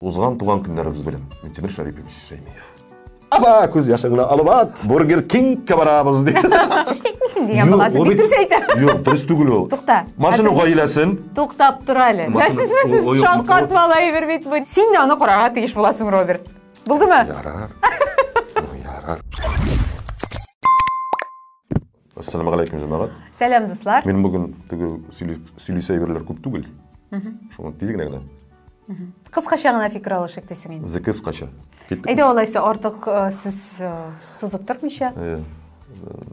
Узган туган көннәрегез белән, Минтимер Шәрипович Шәймиев. Аба, күз яшыңны алып ат, Бургер Кингка барабыз ди. Эшләйтмисең дигән баласы, бик дөрес әйтә. Юк, дөрес түгел ул. Тукта. Машина гаиләсен. Туктап тор әле. Мәсезме сез шаккат бала әйбер бит бу. Син дә аны карарга тиеш буласың, Роберт. Булдымы? Ярар. Ярар. Ассаламу галәйкүм, җәмәгать. Сәлам, дуслар. Мин бүген теге сөйлисе әйберләр күп түгел. Шуңа тиз генә генә. Кыскача гына фикер алышык дисең инде. Зикер кыскача. Әйдә алайса артык э, сүз э, сузып тормыйча. Э,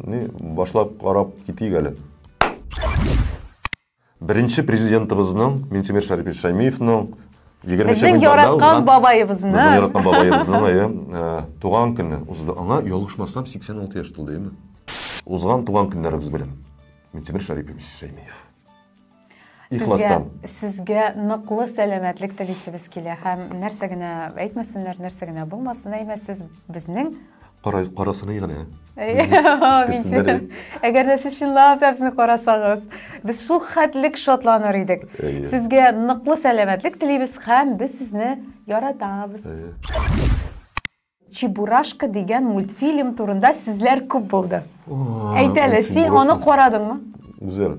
ни башлап карап китик әле. Беренче Президентыбызның, Минтимер Шәрипович Шәймиевның егерменче Безнең гыйнварда яраткан узган- бабаебызның. Безнең яраткан бабаебызның әйе, э, туган көне узды. Аңа, ялгышмасам, 86 яшь тулды, әйеме? Узган туган көннәрегез белән, Минтимер Шәрипович Шәймиев. Сезгә, Ихластан. сезгә ныклы сәламәтлек телисебез килә һәм нәрсә генә әйтмәсеннәр, нәрсә генә булмасын, әйме, сез безнең Карай, карасыный гына. Әгәр дә сез чынлап та безне карасагыз, без шул хәтлек шатланыр идек. Сезгә ныклы сәламәтлек телибез һәм без сезне яратабыз. Чебурашка дигән мультфильм турында сүзләр күп булды. Әйтәле, син аны карадыңмы? Үзер.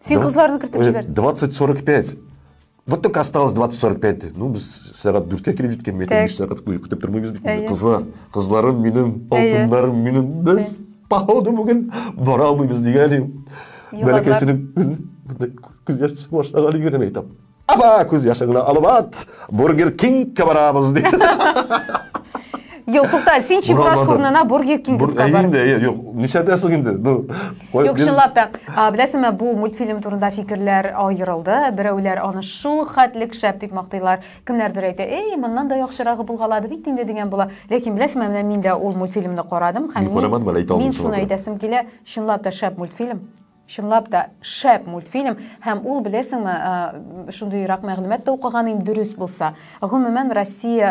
Син Два- кызларны кертеп Э, җибәрдең. 20.45. Вот только осталось 20.45. Ну, без сәгать дүрткә килеп җиткән, мен Так. биш сәгать буе көтеп тормыйбыз бит. Әйе. Кызлар, кызларым минем, Әйе. алтыннарым минем. Без, походу, бүген бара алмыйбыз дигән идем. Юллар. Бәләкәсенең күзен күз яшь башлаған егерен әйтәм. Аба, күз яшыңны алып ат, Бургер Кингка барабыз, ди. Юк, тукта, син Чебураш Урамнарда. курнына Бургер Кинг Бур- китеп Ә бар. инде, ә, юк, нишәдәсең инде? Ну, кой, Юк, бир- чынлап та, а, беләсеңме, бу мультфильм турында фикерләр аерылды. Берәүләр аны шул хәтлек шәп дип мактыйлар, кемнәрдер әйтә, "Эй, моннан да яхшырагы булгалады бит инде" дигән була. Ләкин беләсеңме, менә мин дә ул мультфильмны карадым һәм Мин карамадым әле, әйтә мин алмыйм шуны шуңа күрә. әйтәсем килә, чынлап та шәп мультфильм. Чынлап та, шәп мультфильм, һәм ул, беләсеңме, шундыйрак мәгълүмат та укыган идем, дөрес булса. Гомумән, Россия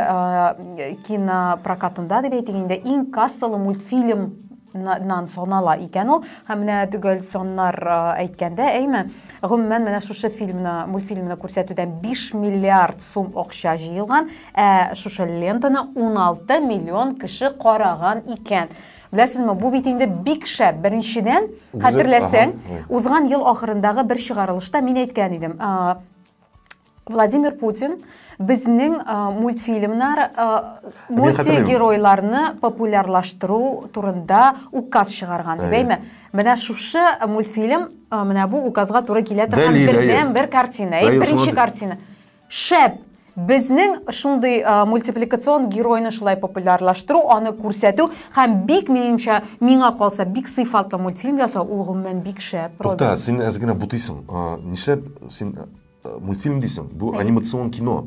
кинопрокатында, дип әйтик инде, иң кассалы мультфильм нан санала икән ул һәм менә төгәл саннар әйткәндә әйме гомумән менә шушы фильмны мультфильмны күрсәтүдән 5 миллиард сум акча җыелган ә шушы лентаны 16 миллион кеше караган икән Беләсезме, бу бит инде бик шәп. Беренчедән, хәтерләсәң, узган ел ахырындагы бер чыгарылышта мин әйткән идем, Владимир Путин безнең мультфильмнар мультигеройларны популярлаштыру турында указ чыгарган дип әйме менә шушы мультфильм менә бу указга туры килә торган бердән бер картина беренче картина Шәп! Безнең шундый мультипликацион геройны шулай популярлаштыру, аны күрсәтү һәм бик минемчә, миңа калса, бик сыйфатлы мультфильм ясау, ул гомумән бик шәп. Тукта, син әз генә бутыйсың. Нишләп син мультфильм дисең? Бу анимацион кино.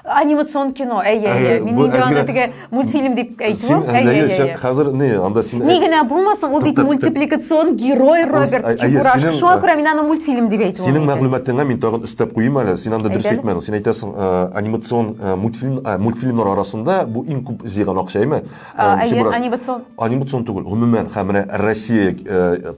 Анимацион кино, әйе, әйе. Мин инде аны теге мультфильм дип әйтү син әйе сен хәзер не анда син ни генә булмасын ул бит мультипликацион герой роберт чебурашка шуңа күрә мин аны мультфильм дип әйтүем синең мәгълүматыңа мин тагын өстәп куйыйм әле син анда дөрес әйтмәдең син әйтәсең анимацион мультфильм мультфильмнар арасында бу иң күп җыйган акча әйме анимацион анимацион түгел гомумән һәм менә россия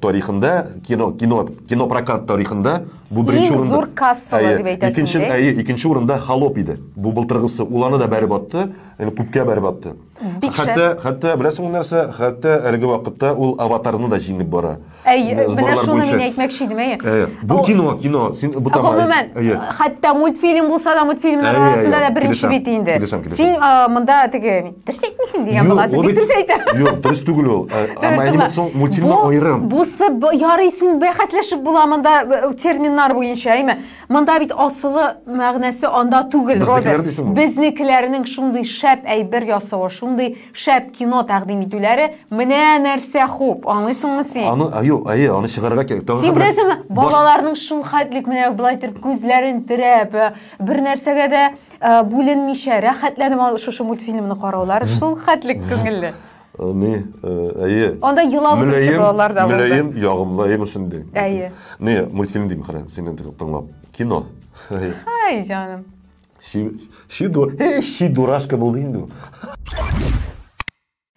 тарихында кино кино кинопрокат тарихында бу беренче урында иң зур кассалы дип әйтәсең икенче әйе икенче урында холоп иде бу былтыргысы ул аны да бәреп атты Әле күпкә бәреп атты. Бик шәп. Хәтта, хәтта беләсеңме нәрсә? Хәтта әлеге вакытта ул аватарны да җиңеп бара. Әй, Менә менә сборлар шуны буенча. мин әйтмәкче идем, әйе. Әйе. Бу О, кино, кино. Син бу тама. Гомумән, Әйе. хәтта мультфильм булса да, мультфильмнар Әйе, арасында әйе. да беренче Килешәм, бит инде. килешәм, килешәм. Син а, монда теге дөрес әйтмисең дигән Юк, буласың. ул Бик бит- дөрес әйтә. Юк, дөрес түгел ул. Ә, Дөрес Ама әйним түгел. соң мультфильмы Бу- аерым. Бусы б- ярыйсын бәхәсләшеп була монда э, терминнар буенча, әйме? Монда бит асылы мәгънәсе анда түгел, Безнекеләр Роберт. дисең ул. Безнекеләрнең шундый шәп әйбер ясавы, шундый шәп кино тәкъдим итүләре, менә нәрсә хуп, аңлыйсыңмы син? Аны, а, юк, әйе, аны чыгарырга кирәк. Тагын Син бер- беләсеңме, баш- балаларның шулхәтлек менә болай итеп күзләрен терәп, э, бер нәрсәгә дә э, бүленмичә, рәхәтләнеп аны- шушы мультфильмны караулары шулхәтлек күңелле. Э, ни э, әйе анда елап мөләем балалар да булды мөләем ягымлы әйе мультфильм дим әйе не мультфильм дим кара сине тыңлап кино ай жаным ши дурашка булды инде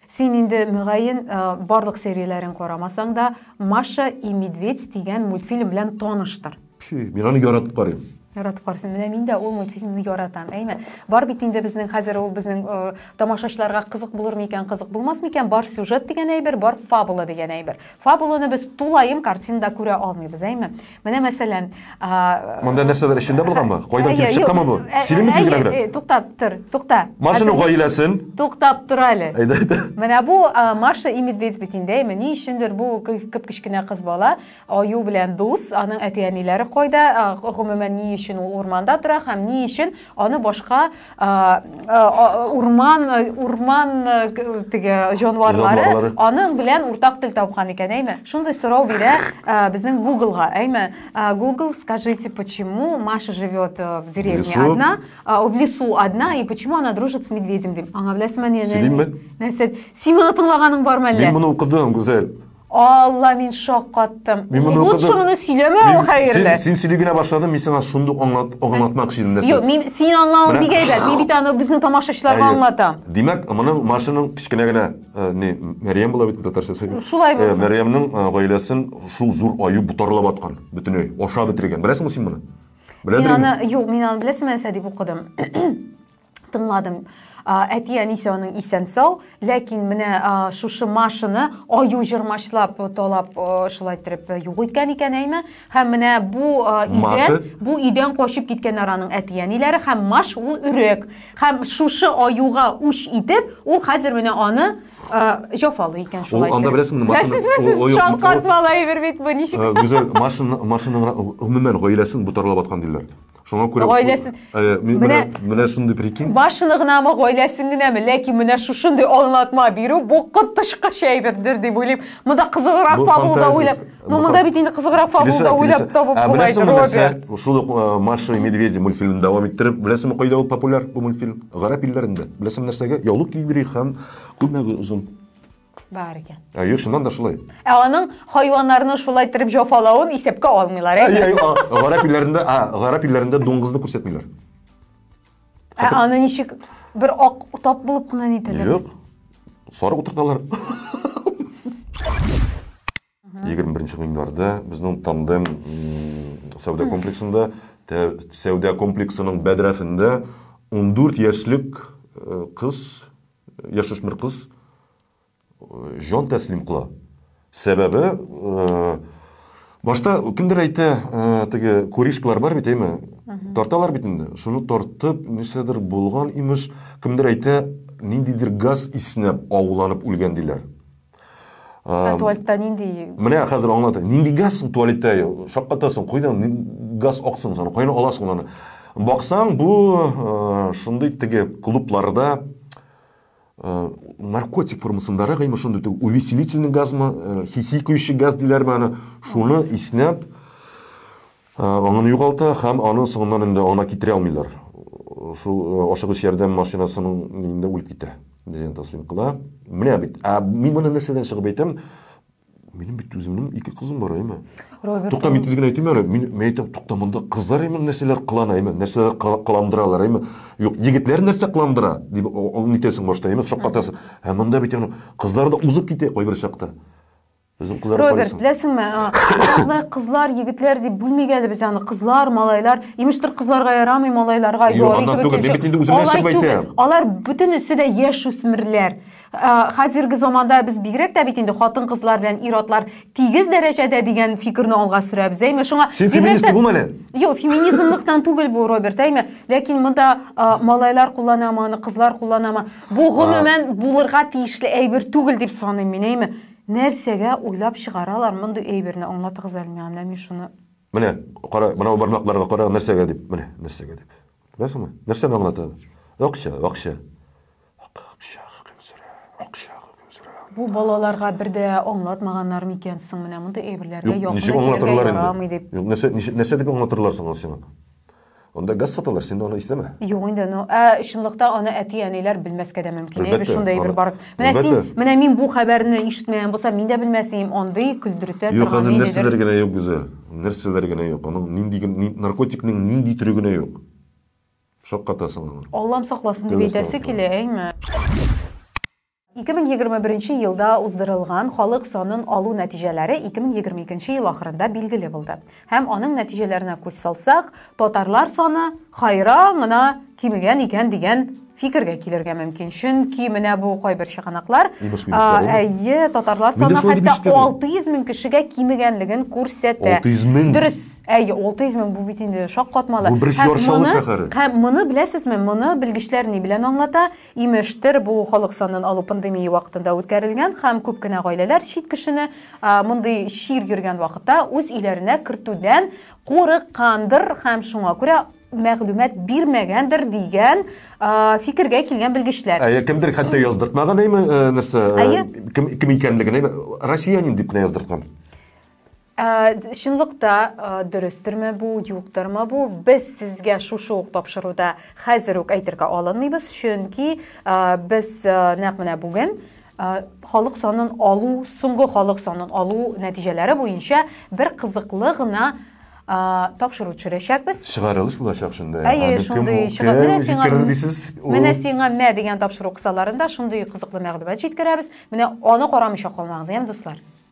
син инде мөгаен э, барлык серияләрен карамасаң да маша и медведь дигән мультфильм белән таныштыр Пфи, мин аны яратып карыйм. Яратып карыйсың. Менә мин дә ул мультфильмны яратам. Әйме? Бар бит инде безнең хәзер ул безнең э, тамашачыларга кызык булыр микән, кызык булмас микән? Бар сюжет дигән әйбер, бар фабула дигән әйбер. Фабуланы без тулаем картинада күрә алмыйбыз, әйме? Менә мәсәлән, а, Монда нәрсәләр эчендә булганмы? Кайдан килеп чыкканмы бу? Синең бит генә генә. Туктап тор, тукта. Машина гаиләсен. Туктап тор әле. Әйдә, әйдә. Менә бу Маша и медведь бит инде, әйме? Ни өчендер бу кып-кечкенә кыз бала Аю белән дус, аның әти-әниләре кайда, гомумән ни өчен ул урманда тора һәм ни өчен аны башка урман урман теге җанварлары аның белән уртак тел тапкан икән, әйме? Шундый сорау бирә безнең Гуглга, әйме? Google, скажите, почему Маша живет э, в деревне одна, в лесу одна и почему она дружит с медведем? Аңа беләсеңме, ни? Син моны тыңлаганың бармы әллә? Мин моны укыдым, Гүзәл. Алла, мин шаккаттым. Мин моны Лучше укыдым. моны сөйләмә, Мин- хәерле. Син, син сөйли генә башладың, мин сиңа шундук аңлат, аңлатмакчы идем нәрсә. Юк, мин син аңлавың Менә- бик әйбәт. Мин бит аны безнең тамашачыларга Әйе. аңлатам. Димәк, моның машинаның кечкенә генә э, не Мәрьям була бит татарчасы. Шулай Э, булсын. Мәрьямның э, гаиләсен шул зур аю бутарлап аткан, бөтенләй ашап бетергән. Беләсеңме син моны? Мин Беләдер инде. аны, юк, мин аны беләсең нәрсә дип укыдым. тыңладым әти әнисе аның исән сау ләкин менә шушы машины аю җырмачлап талап шулай иттереп юк иткән икән әйме һәм менә бу өйдән бу өйдән качып киткәннәр аның әти әниләре һәм маш ул өрек һәм шушы аюга үч итеп ул хәзер менә аны җафалый икән шулай ул анда беләсеңме машина шалкарт малай бер бит бу ничек гүзәл машина машинаның гомумән гаиләсен бу тарлап аткан диләр Шуңа күрә гаиләсен менә менә шундый прикинь. Башыны гынамы, гаиләсен генәме, ләкин менә шушындый аңлатма бирү бу коточкыч әйбердер дип уйлыйм. Монда кызыграк фабулда уйлап, ну монда бит инде кызыграк фабулда уйлап табып була иде Роберт. Шул ук э, Маша и медведи мультфильмын дәвам иттереп, беләсеңме кайда ул популяр бу мультфильм? Гарәп илләрендә. Беләсеңме нәрсәгә? Яулык кигери һәм күлмәге озын. Бар икән. Әйе, э, шуннан да шулай. Ә аның хайваннарны шулай итеп җафалавын исәпкә алмыйлар, әйе? Әйе, гарәп илләрендә, а, гарәп илләрендә дуңгызны күрсәтмиләр. Ә аны ничек бер ак тап булып кына нитәләр? Юк. Сарык утырталар. 21 гыйнварда безнең тандем сәүдә комплексында сәүдә комплексының бәдрәфендә 14 яшьлек э, кыз яшүсмер кыз э, җан тәслим кыла сәбәбе э, башта кемдер әйтә теге куришкалар бар бит әйме тарталар бит инде шуны тартып нәрсәдер булган имеш кемдер әйтә ниндидер газ иснәп ауланып үлгән диләр Ә туалетта нинди? Менә хәзер аңлатам. Нинди газ соң туалетта? Шаккатасың, кайдан газ аксын соң, кайдан аласың аны? Баксаң, бу шундый теге клубларда наркотик формасындарак имеш шундый теге увеселительный газмы, хихикающий газ диләрме аны, шуны иснәп Аңын югалта һәм аны соңыннан инде аңына китерә алмыйлар. Шул ашыгыч ярдәм машинасының нигезендә үлеп китә, дигән тәслим кыла. Менә бит. Ә мин моны нәрсәдән чыгып әйтәм? Минем бит үземнең ике кызым бар, әйме? Роберт. Тукта, мин тиз генә әйтим әле. Мин, мин әйтәм, тукта, монда кызлар әйме нәрсәләр кылана, әйме? Нәрсәләр кыландыралар, әйме? Юк, егетләр нәрсә кыландыра, дип нитәсең башта, әйме? Шаккатасың. Ә монда бит аны кызлар да узып китә кайбер чакта. Үзең кызарып Роберт, карыйсың. беләсеңме, алай кызлар, егетләр дип бүлмигә әле без аны. Кызлар, малайлар, имештер кызларга ярамый, малайларга Юк, ярый аннан түгел, мин бит инде үземнән чыгып әйтәм. Алар бүтән өсе дә яшь үсмерләр. Хәзерге заманда без бигрәк тә бит инде хатын-кызлар белән ир-атлар тигез дәрәҗәдә дигән фикерне алга сөрәбез, әйме? Шуңа Син феминист түгел әле? Юк, феминизмлыктан түгел бу, Роберт, әйме? Ләкин монда малайлар кулланамы, аны кызлар кулланамы? Бу гомумән булырга тиешле әйбер түгел дип саныйм мин, әйме? Нәрсәгә уйлап чыгаралар мондый әйберне, аңлатыгыз әле миңа, менә мин шуны. Менә, кара, менә ул бармакларга кара, нәрсәгә дип, менә, нәрсәгә дип. Күрәсеңме? Нәрсәне аңлата? Акча, акча. Акча хөкем сөрә, акча хөкем сөрә. Бу балаларга бер дә аңлатмаганнар микән соң, менә мондый әйберләргә якын да килергә ярамый дип. Нәрсә, нәрсә дип аңлатырлар соң аны сиңа? Анда газ саталар, син аны исләмә. Юк инде, ну, ә чынлыкта аны әти-әниләр белмәскә дә мөмкин. Әлбәттә, Әйбер шунда әйбер бар. Менә син, менә мин бу хәбәрне ишетмәгән булсам, мин дә белмәс идем, андый көлдертә торган. Юк, хәзер нәрсәләр генә юк, Гүзәл. Нәрсәләр генә юк. Аның нинди наркотикның нинди төре генә юк. Шаккатасың. Аллам сакласын дип әйтәсе килә, әйме? 2021 нче елда уздырылган халык санын алу нәтиҗәләре 2022 нче ел ахырында билгеле булды. Һәм аның нәтиҗәләренә күз салсак, татарлар саны хайран гына кимегән икән дигән фикергә килергә мөмкин. Чөнки менә бу кайбер чыганаклар, әйе, татарлар саны хәтта 600 мең кешегә кимегәнлеген күрсәтә. 600 мең? Дөрес. Әйе, 600 мең бу бит инде шаккатмалы. Бу бер чаршаулы шәһәр. Һәм моны беләсезме, моны белгечләр ни белән аңлата? Имештер, бу халык санын алу пандемия вакытында үткәрелгән һәм күп кенә гаиләләр чит кешене мондый чир йөргән вакытта үз өйләренә кертүдән курыккандыр һәм шуңа күрә мәгълүмат бирмәгәндер дигән фикергә килгән белгечләр. Әйе, кемдер хәтта яздыртмаган, әйме, нәрсә, кем икәнлеген, россиянин дип кенә яздырткан. Ә, чынлыкта ә, дөрестерме бу, юктырмы бу? Без сезгә шушы ук тапшыруда хәзер үк әйтергә алынмыйбыз, чөнки ә, без ә, нәкъ менә бүген ә, халык санын алу, соңгы халык санын алу нәтиҗәләре буенча бер кызыклы гына а, тапшыру төшерәчәкбез. Чыгарылыш булачак шунда. Әйе, Аны шундый кем, чыга- кем менә сиңа- җиткерер дисез? Ул- Менә сиңа мә дигән тапшыру кысаларында шундый кызыклы мәгълүмат җиткерәбез. Менә аны карамыйча калмагыз, яме дуслар.